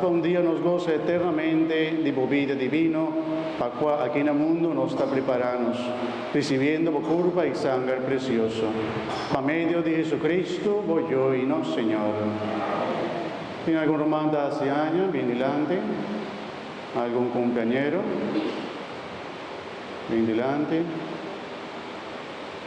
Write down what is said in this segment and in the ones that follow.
Pa un dia nos gosa eternamente di bo bida divino, pa kua aki na mundu nos ta priparanos, risibiendo bo kurpa i sanger presioso. Pa medio di Jesucristo, bo Yo i nos Señor. Tin algun ruman ta hasi aña bin dilanti? Algun kumpliañero? Bin dilanti.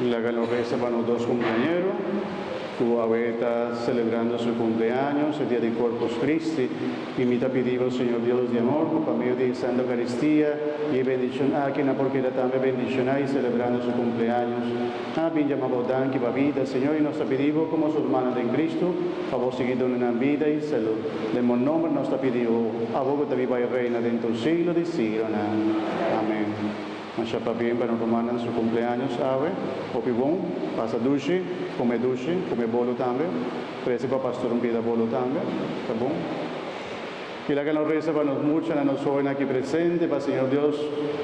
Laga nos resa pa nos dos kumpleñero ku awe ta selebrando su kumpleaños, e dia di Corpus Christi, i mi ta pidi bo, Señor Dios di amor, ku pa medio di e Santo Eukaristia i e bendishon aki nan por keda tambe bendishoná i selebrando su kumpleaños. Nan a bin djama bo danki pa bida, Señor, i nos ta pidi bo ku nos urmannan den Kristu pa bo sigui duna nan bida i salu. Den bo nomber nos ta pidi bo, abo ku ta biba i reina den tur siglo di sigronan. Amen. Masha pabien pa nos rumannan su kumpleaños awe. Hopi bon. Pasa dushi, kume dushi, kume bolu tambe. Prese pa pastor un bida bolu tambe, ta bon. Kila ke nos resa pa nos muchanan, nos hóbennan aki presente, pa Señor Dios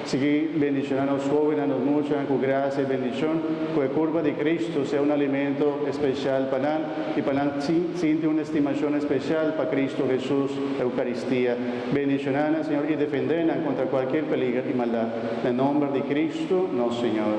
sigui bendiciona nos hóbennan, nos muchanan cu gracia y bendicion, cu e curpa di Cristo sea un alimento especial pa nan y pa nan sinti un estimacion especial pa Cristo Jesús Eucaristia. Bendiciona nan, Señor, y defende nan contra cualkier peliger y maldad. Na nomber di Cristo nos Señor.